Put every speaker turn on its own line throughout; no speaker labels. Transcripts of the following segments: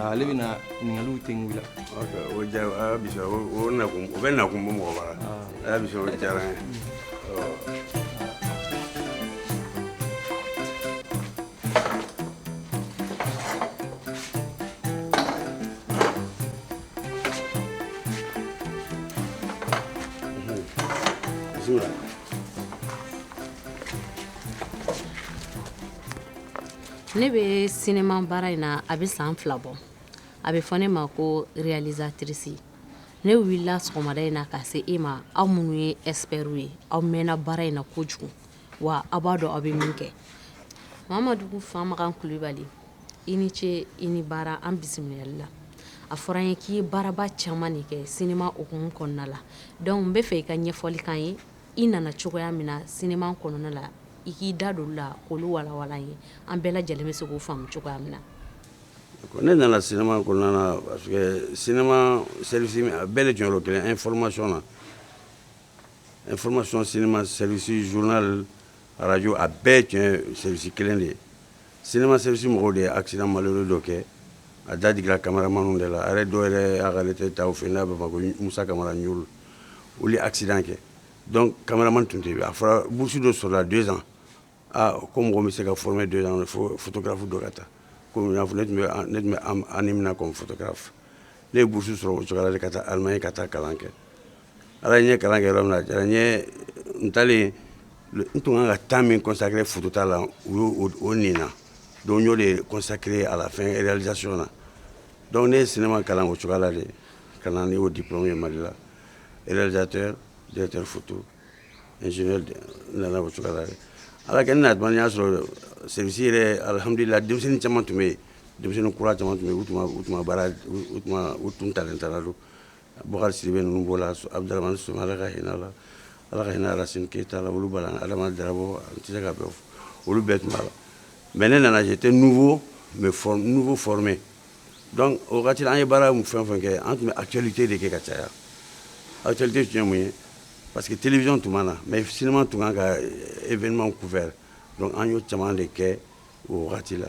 ale bɛna ɲininkaliw tɛ ŋu la ok o ja a y'a
bisa o o nakun o bɛ nakun bɔ mɔgɔ bara a y'a bisa o diyara n ye bisimila
ne bɛ sinima baara in na a bɛ san fila bɔ a bɛ fɔ ne ma ko réalisatrice ne wulila sɔgɔmada in na ka se e ma aw minnu ye experts ye aw mɛnna baara in na kojugu wa aw b'a dɔn aw bɛ min kɛ Mamadu Famakan Kulibali i ni ce i ni baara an bisimilali la a fɔra n ye k'i ye baaraba caman de kɛ sinima hukumu kɔnɔna la donc n b'a fɛ i ka ɲɛfɔli k'an ye i nana cogoya min na sinima kɔnɔna la i k'i da don olu la k'olu walawala an ye an bɛɛ lajɛlen bɛ se k'o faamu cogoya min na ne
nana sinima kɔnɔna la parce que sinima service bɛɛ de jɔyɔrɔ kelen information na information sinima service journal Arajo a bɛɛ tiɲɛ sɛsi kelen de ye sema sɛsi mɔgɔw de ye asi malilu dɔ kɛ a datigɛ kamarama de la a dɔw yɛrɛ a'ale tɛ taa fɛ n'a bɛ ma ko musa kamara ɲ olu ye asi kɛ dɔn kamaraman tun tɛ a fɔra busu dɔ sɔrɔla donsan aa ko mɔgɔ bɛ se ka fmɛ don fotokarafu don ka taa kɔmi ne tun bɛ ne tun bɛ an minɛ fɛ ne ye busu sɔrɔ o cogoya de ka taa ala ye ka taa kalan kɛ Allemagne n ye kalan kɛ yɔrɔ min na diyara n ye n taalen n tun kan ka temps min consacrer photo ta la u y' o nin na donc n y'o de consacrer à la fin réalisation na donc ne ye sinima kalan o cogoya la de ka na n'o diplôme ye Mali la réalisateur directeur photo n nana o cogoya la ala kɛ ne na tuma n y'a sɔrɔ service yɛrɛ alihamdulilahi denmisɛnnin caman tun bɛ yen denmisɛnnin kura caman tun bɛ yen u tun u tun ta taara don Bakari si bɛ ninnu bɔ la a bɛ so ala ka hinɛ la ala ka hinɛ ara sen keyita la olu bala adama jabɔ an tɛ se ka bɛ olu bɛɛ tun la mɛ ne nana tɛ nugu mɛ nugu f mɛn dɔnku o wagati an ye baara min fɛn fɛn kɛ an tun bɛ a cɛli tɛ de kɛ ka caya a cɛli tɛ tiɲɛ mun ye pa que tele tun b na mɛ sema tun kan ka e vma ku fɛ an y'o caman de kɛ o wagati la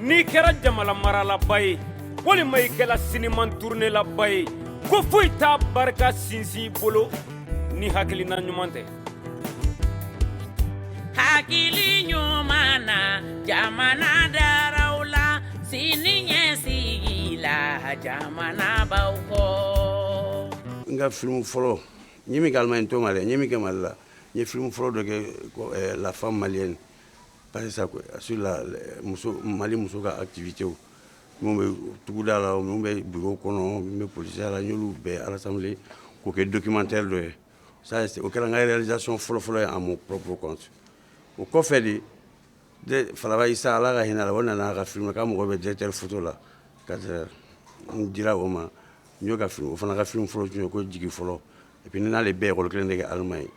n'i kɛra jamana maralaba ye walima i kɛra sinima turunelaba ye ko foyi t'a barika sinsin i bolo ni hakilina ɲuman tɛ
hakili ɲuman na jamana daraw la sini ɲɛsigi la jamana b'aw kɔ n ka filimu
fɔlɔ n ye min kɛ Allemagne n t'o ma dɛ n ye min kɛ Mali la n ye filimu fɔlɔ dɔ kɛ eh, la femme malienne Barisa ko a su la muso mali muso ka tibite minnu bɛ tuguda la minnu bɛ bi kɔnɔ bɛ psiya la n'olu bɛɛ alasa k'o kɛ dokimantɛ dɔ ye o kɛra kazson fɔlɔfɔlɔ ye a ma ppp kɔnɔ o kɔfɛ de fara sa ala ka hinɛ a o nana a ka fili ka mɔgɔ bɛ dɛsɛre futa la ka n di o ma n'o ka o fana ka finioro tun ye ko jigi fɔlɔ Et puis n'ale bɛɛ ye école kelen de kɛ Allemagne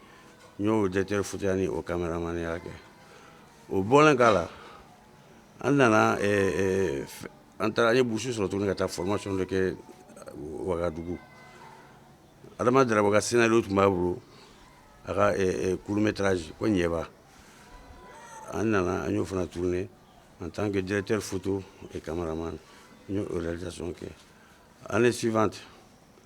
n y'o directeur photoya ni o cameramanya kɛ o bɔlen k'a la an nana eh, eh, an taara an ye bourse sɔrɔ tuguni ka taa formation dɔ kɛ Wagadugu Adama Darabo ka scénario tun b'a bolo a ka eh, court métrage ko Ɲɛba an nana an y'o fana tourner en tant que directeur photo et cameraman n y'o réalisation kɛ année suivante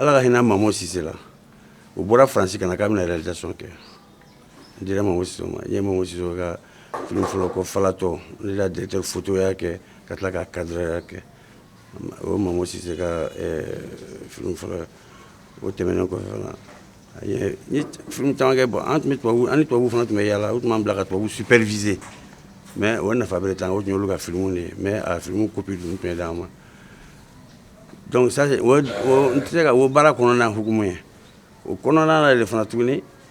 Ala ka hinɛ mamu sise la o bɔra Faransi ka na k'a bɛna réalisation kɛ n dira mamu sise ma n ye mamu sise ka film fɔlɔ ko falatɔ ne d'a directeur photoya kɛ ka tila ka cadreurya kɛ O mamu sise ka film fɔlɔ o tɛmɛnen kɔ caman ka bɔ an ani tubabu fana tun bɛ yaala u tun b'an bila ka tubabu superviser mais o nafa bɛ taa o olu ka filimu de mais a filimu copie dun tun bɛ d'an ma donc n tɛ se ka o baara kɔnɔna hukumu ye o kɔnɔna yɛrɛ de fana tuguni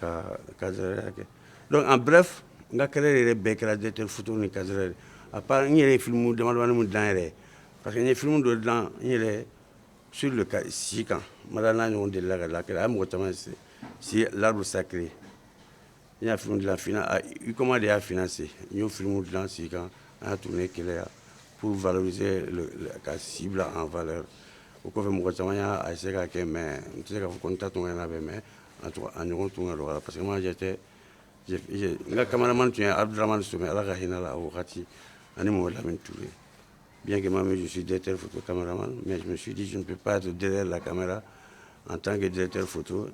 Ka ka kɛ donc en bref n ka carrière bɛɛ kɛra directeur photo ni cadreur ye à part n yɛrɛ filimu damanin dilan yɛrɛ parce que n ye filimu dɔ dilan n yɛrɛ sur le ka si kan ma n'a ɲɔgɔn dilan ka la a ye mɔgɔ caman si l'arbre sacré n y'a film dilan i koma de y'a financer n y'o filimu dilan si kan an tun ye kɛlɛya pour valoriser ka si bila en valeur o kɔfɛ mɔgɔ caman y'a se ka kɛ mais n tɛ se ka fɔ ko n ta tun bɛ mɛn a ɲɔgɔn tun ka dɔgɔ parce que m'a jɛ tɛ n ka kamamani tun ye abududamani sɛ ala ka hinɛ la wagati ani mɔgɔ lammi tu ye bikɛma min dususi dɛsɛte foto kamara ma mɛsusitu bɛ pa to dɛ la kamamera an tan kɛ dɛsɛte foto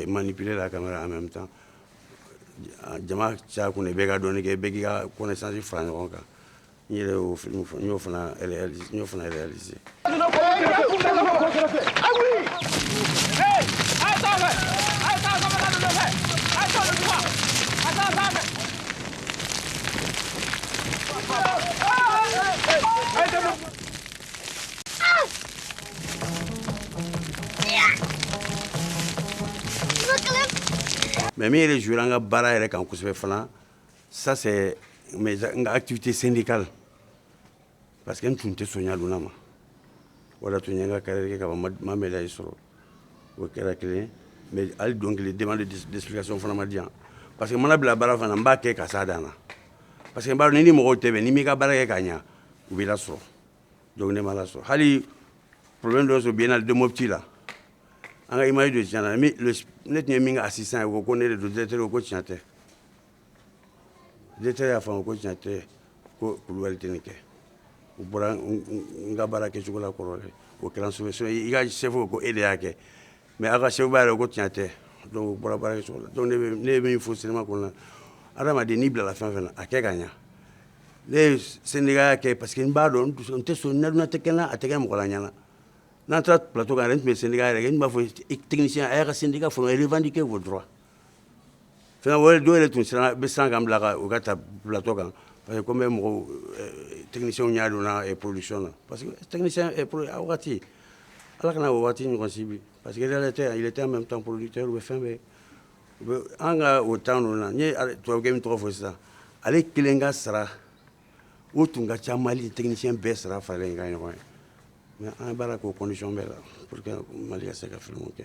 man ni pere la kamamera an bɛ taa jama caya kun bɛ ka dɔni kɛ bɛɛ k'i ka kɔnɛsansi fara ɲɔgɔn kan N yɛrɛ y'o film min fɔ n y'o fana réaliser n y'o fana réaliser mais min yɛrɛ jouera an ka baara yɛrɛ kan kosɛbɛ fana ça c'est mes n ka activité syndicale parce que n tun tɛ sɔn ɲadonna ma o de y'a to n ye n ka carrière kɛ ka ban n ma médaille sɔrɔ o kɛra kelen mais hali don kelen demande d'explication fana ma di yan parce que n mana bila baara fana n b'a kɛ ka s'a dan na parce que n b'a dɔn n'i ni mɔgɔw tɛ bɛn n'i m'i ka baara kɛ ka ɲa u b'i lasɔrɔ donc ne ma lasɔrɔ hali problème dɔ sɔrɔ biennale de Mopti la an ka image de tiɲɛna ne tun ye min ka assistant ye o ko ko ne de don directeur ko tiɲɛ tɛ directeur y'a faamu ko tiɲɛ tɛ ko kulubali tɛ nin kɛ u bɔra n ka baara kɛ cogo la kɔrɔ o kɛra so i ka chef ko e de y'a kɛ mais ale ka chef b'a ye ko tiɲɛ tɛ u bɔra baara kɛ cogo la ne min fɔ seulement ko adamaden n'i bilala fɛn fɛ a kɛ ka ɲɛ ne ye syndicat kɛ parce que n b'a dɔn n tɛ sɔn a tɛ kɛ n na a tɛ kɛ mɔgɔ la n ɲɛna n'an taara plateau kan n tun bɛ syndicat yɛrɛ n b'a fɔ technicienw a y'a ka syndicat faut revendiquer vos droits wɛrɛ dɔw de tun siran bɛ san ka bila u ka taa bilatɔ kan parce que bɛ mɔgɔw tɛmɛw y'a don polisi na parce waati ala kana waati ɲɔgɔnsi bi pa que yɛrɛ tɛ a yɛrɛ min tan poli tɛ bɛ fɛn bɛɛ u an ka o tan ninnu na ye tubabu min tɔgɔ fɔ sisan ale kelen ka sara u tun ka ca mali tɛmisi bɛɛ sara fara in ka ɲɔgɔn ye mɛ an b'a k'osɔn bɛɛ la mali se ka fɛn kɛ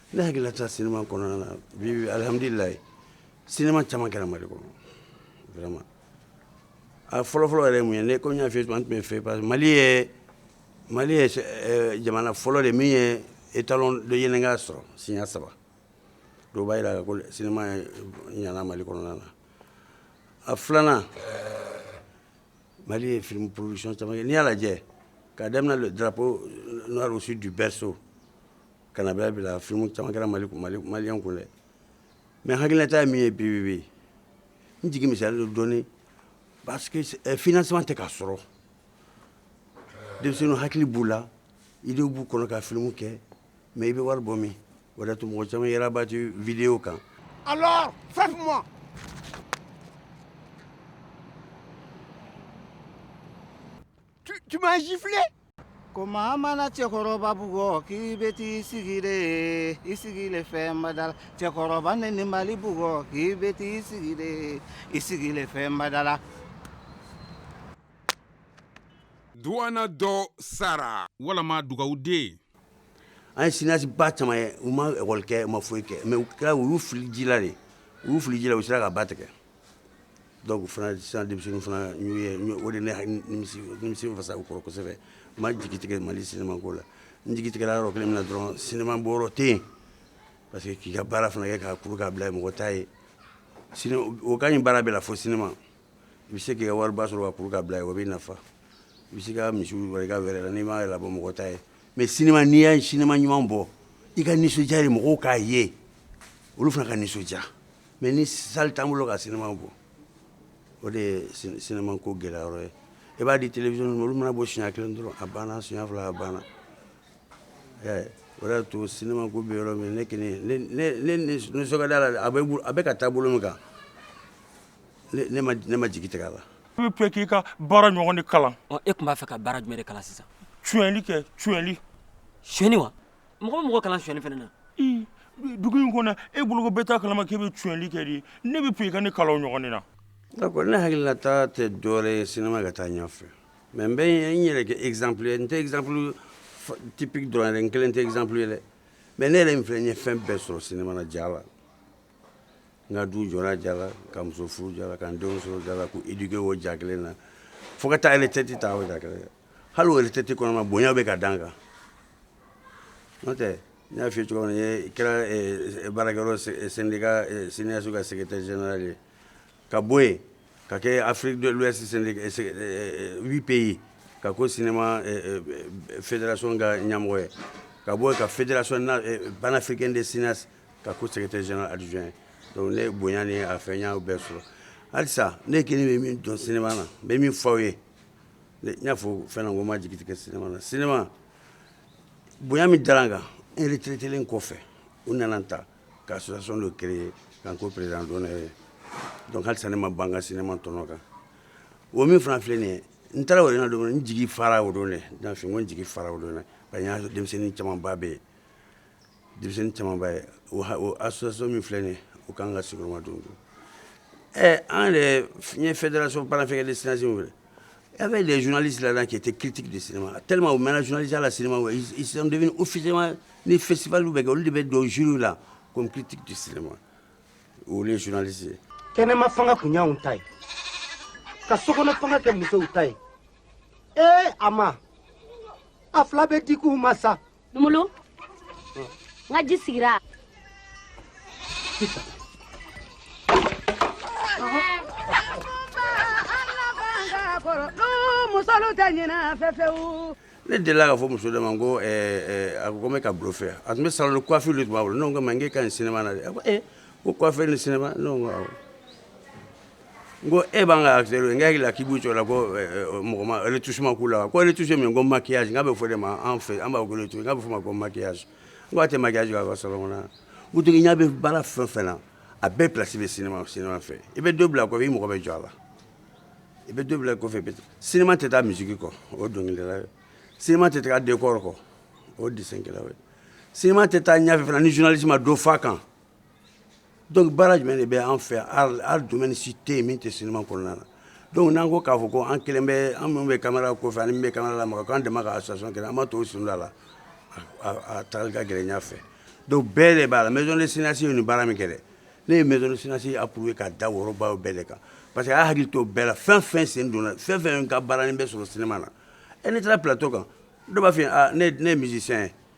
Ne
hakililata cinéma kɔnɔna na bi alihamdulila cinéma caman kɛra mali kɔnɔ a fɔlɔfɔlɔ yɛrɛ min ye ne ko n y'a f'i ye an tun bɛ fier parce que mali ye mali ye jamana fɔlɔ de min ye étalon de yennenga sɔrɔ siɲɛ saba o b'a jira ko cinéma ɲana mali kɔnɔna na a filanan mali ye film production caman kɛ n'i y'a lajɛ k'a daminɛ le drapeau noir au sud du berceau Kanada bila f caman mali mali mali kun dɛ mɛ hakililata min ye bi bɛ n jigin mi don dɔɔninɔni fina saba tɛ k'a sɔrɔ de hakili b'u la i de b'u kɔnɔ ka fili kɛ mɛ i bɛ wari bɔ min o tun mɔgɔ caman yɛrɛrabati vdenyw kan
Tu, tu m'as giflé ko
maa mana cɛkɔrɔba bugɔ k'i bɛ t'i sigi de i sigi le fɛn bada la cɛkɔrɔba neni mali bugɔ k'i bɛ t'i sigi de i sigi le fɛn bada la
duwana dɔ sara walama dugawu den an ye
cinéaste ba caman ye u ma ekɔli kɛ u ma foyi kɛ mais u kɛra u y'u fili ji la de u y'u fili ji la u sera ka ba tigɛ Donc fana sisan denmisɛnninw fana o de fasa u kɔrɔ kosɛbɛ n ma jigi tigɛ mali cinéma ko la n jigi tigɛra yɔrɔ kelen min na dɔrɔn cinéma bɔyɔrɔ tɛ yen parce que k'i ka baara fana kɛ k'a kuru k'a bila mɔgɔ t'a ye o ka ɲi baara bɛɛ la fo cinéma i bɛ se ka wari ba sɔrɔ k'a kuru k'a bila o b'i nafa i bɛ se ka misiw i ka wɛrɛ la n'i m'a labɔ mɔgɔ t'a ye mais cinéma n'i ye cinéma ɲuman bɔ i ka nisɔndiya ye mɔgɔw k'a ye olu fana ka nisɔndiya mais ni salle t'an bolo ka cinéma bɔ o de ye cinéma ko gɛlɛyayɔrɔ ye i b'a di télévision ma olu mana bɔ siɲɛ kelen dɔrɔn a banna siɲɛ fila a banna o de y'a to cinéma ko bɛ yɔrɔ min ne kɔni ne nisɔn ka d'a la a bɛ ka taa bolo min kan ne ma jigi tigɛ a la n b'a fɛ k'i ka
baara ɲɔgɔn de kalan e tun b'a fɛ ka baara
jumɛn de kalan sisan suyɛnli kɛ
suyɛnli suyɛnni wa
mɔgɔ bɛ mɔgɔ kalan suyɛnli fana na
dugu in kɔnɔ e bolo bɛɛ t'a kalama k'i bɛ suyɛnli kɛ de ne b'a fɛ i ka ne kalan o ɲɔgɔn na ne
hakilinata tɛ dɔwɛrɛ ye cinéma ka taa ɲɛfɛ mais n bɛ n yɛrɛ kɛ exemple ye n tɛ exemple type dɔrɔn n kelen tɛ exemple ye dɛ mais ne yɛrɛ min filɛ n ye fɛn bɛɛ sɔrɔ cinéma na ja la n ka du jɔra ja la ka muso furu ja la ka denw sɔrɔ ja la k'u éduquer o ja kelen na fo ka taa retraite ta o ja kelen hali o retraite kɔnɔna bonya bɛ ka d'an kan n'o tɛ n y'a f'i ye cogoya min na n kɛra eh, baarakɛyɔrɔ eh, syndicat eh, cinéastes ka secrétaire général ye ka bɔ yen ka kɛ afrique de l'ouest syndicat huit pays ka k'o cinéma fédération ka ɲɛmɔgɔ ye ka bɔ yen ka fédération panafricaine des cinéastes ka k'o secrétaire général adjoint ye donc ne bonya ni a fɛn n y'a bɛɛ sɔrɔ halisa ne kelen bɛ min dɔn cinéma na n bɛ min fɔ aw ye n y'a fɔ fɛn na ko n ma jigi tigɛ cinéma na cinéma bonya min dara n kan n retraitélen kɔfɛ u nana n ta ka association dɔ créer ka n k'o président d'honneur ye donc halisa ne ma ban n ka cinéma tɔnɔ kan o min fana filɛ nin ye n taara wɛrɛ don n jigi fara o don dɛ n y'a fɔ n ko n jigi fara o don parce que n y'a sɔrɔ denmisɛnnin camanba bɛ yen Denmisɛnnin camanba ye asɔso min filɛ ye u ka kan ka sigiyɔrɔma don don ɛ an yɛrɛ fiɲɛ fɛn dalaso baarakɛ ni sinsin ye e bɛ de zli siran k'i tɛ kitigi de sen ma teli o mɛn zli la sen u fima ni fɛsibaw bɛ kɛ olu de bɛ don zw la ko kitigi di sen ma o ye zlise kɛnɛma fanga
tun y' ta ye ka so kɔnɔ fanga kɛ musow ta ye ee a ma a fila bɛ di' u ma sa
numulu n ka ji sigira musolu tɛ ɲina fɛfɛwu ne delila k'a
fɔ muso dɔ ma ko eh, eh, a ko ko n bɛ ka bluffer a tun bɛ salon de coiffure de tun b'a bolo ne ko n ko ma n k'e ka ɲi cinéma na dɛ a ko ee ko coiffure ni cinéma ne ko n ko awɔ N ko e b'an ka seri n hakili la k'i b'o la ko mɔgɔ tu suma k'u la ko tu min ko maya n' bɛ fɔ de ma an fɛ an b'a bolo tun n'a bɛ fɔ ma ko maya n'a tɛ maja ka sa kɔnɔ u tun y'a bɛ baara fɛn fɛn na a bɛɛ bilasi bɛ sen sen fɛ i bɛ don bila a ko i mɔgɔ bɛ jɔ a la i bɛ don bila kɔfɛ sema tɛ taa misi kɔ o don sema tɛ taa den kɔrɔ kɔ o de ye sema tɛ taa ɲafɛ ni zsi ma don faa kan Donc baara jumɛn de bɛ an fɛ art domaine si tɛ yen min tɛ cinéma kɔnɔna na donc n'an ko k'a fɔ ko an kelen bɛ an minnu bɛ caméra kɔfɛ ani min bɛ caméra lamaga k'an dɛmɛ ka association kɛ an ma to sunda la taa ka gɛlɛn ɲɛfɛ donc bɛɛ de b'a la maison des cinéastes ye nin baara min kɛ ne ye maison des cinéastes approuver k'a da worobaa bɛɛ de kan parce que a y'a hakili to bɛɛ la fɛn fɛn sen donna fɛn fɛn ka baara in bɛ sɔrɔ cinéma na e n'i taara plateau kan dɔ b'a fɔ ne ye musicien ye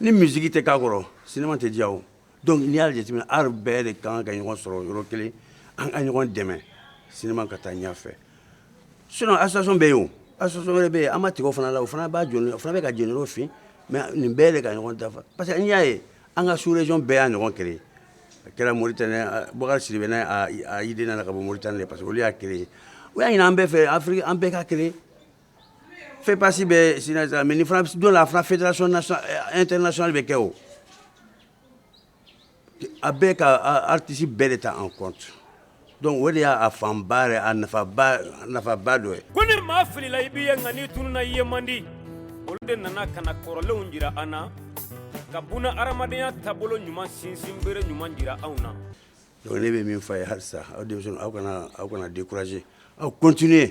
ni musique tɛ k'a kɔrɔ cinéma tɛ diya o donc n'i y'a jateminɛ art bɛɛ de ka kan ka ɲɔgɔn sɔrɔ yɔrɔ kelen an ka ɲɔgɔn dɛmɛ cinéma ka taa ɲɛfɛ sinon association bɛ yen o association wɛrɛ bɛ yen an ma tigɛ o fana la o fana b'a jɔni o fana bɛ k'a jɔyɔrɔ fa mais nin bɛɛ de ka ɲɔgɔn dafa parce que n'i y'a ye an ka sous région bɛɛ y'a ɲɔgɔn créer a kɛra Mauritanie Boubacar Sidibe n'a a idée nana ka bɔ Mauritanie de parce que olu y'a créer u y'a ɲini an bɛɛ fɛ Afrique an bɛɛ ka créer FEPACI bɛ sen na mais nin fana don a fana fédération internationale bɛ kɛ o a bɛ ka artiste bɛɛ de ta en compte donc o de y'a fanba yɛrɛ a nafa nafaba dɔ ye ko ni maa filila
i b'i ye nka n'i tununa i ye man di olu de nana ka na kɔrɔlenw jira an na ka bɔnna hadamadenya taabolo ɲuman sinsin bere ɲuman jira anw na donc ne bɛ min
fɔ a ye halisa aw de aw kana aw kana décourager aw continuer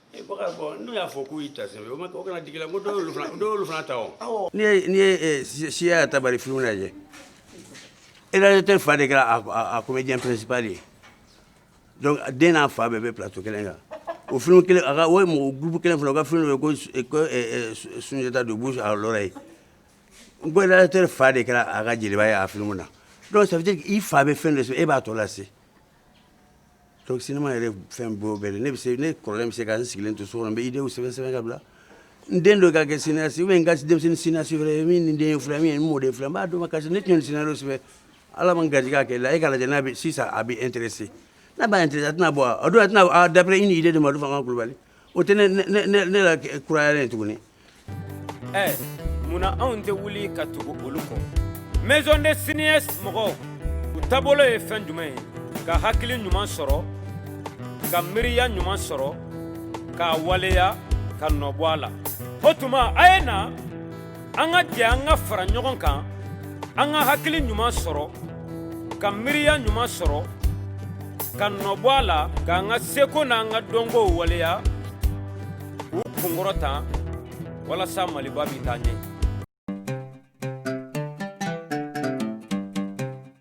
n'u y'a fɔ k'u ta o kana digi la ko dɔw fana ta n'i ye siya ta bari fiw lajɛ e tɛ fa de kɛra a ko bɛ diɲɛ pɛsiba de ye den n'a fa bɛɛ bɛ pto kelen kan o f kelen a o ye mɔgɔ gbu kelen fila u ka f ye ko sunjatata don bu ye n ko tɛ fa de kɛra a ka jeliba ye a fini na dɔw sabati i fa bɛ fɛn de e b'a tɔ lase Donc cinéma yɛrɛ fɛn bɛɛ bɛ ne se ne kɔrɔlen bɛ se ka n sigilen to so n bɛ idéew sɛbɛn sɛbɛn ka bila n den dɔ ka kɛ cinéaste ou bien n ka denmisɛnnin cinéaste wɛrɛ min nin den filɛ min ye n mɔden filɛ n b'a dɔn ma kasi ne tun ye scénario sɛbɛn ala ma garijɛgɛ kɛ la e k'a lajɛ n'a bɛ sisan a bɛ intéresser n'a b'a intéresser a tɛna bɔ a don a tɛna d'après une idée de Madu Famakan Kulubali o tɛ ne lakurayalen ye tuguni ɛ
munna anw tɛ wuli ka tugu olu kɔ maison des cinéastes mɔgɔw u taabolo ye fɛn jumɛn ye ka hakili ɲuman sɔrɔ ka miiriya ɲuman sɔrɔ k'a waleya ka nɔbɔ a la o tuma a ye na an ka jɛ an ka fara ɲɔgɔn kan an ka hakili ɲuman sɔrɔ ka miiriya ɲuman sɔrɔ ka nɔbɔ a la k'an ka seko n'an ka dɔnkow waleya k'u kunkɔrɔta walasa maliba bɛ taa ɲɛ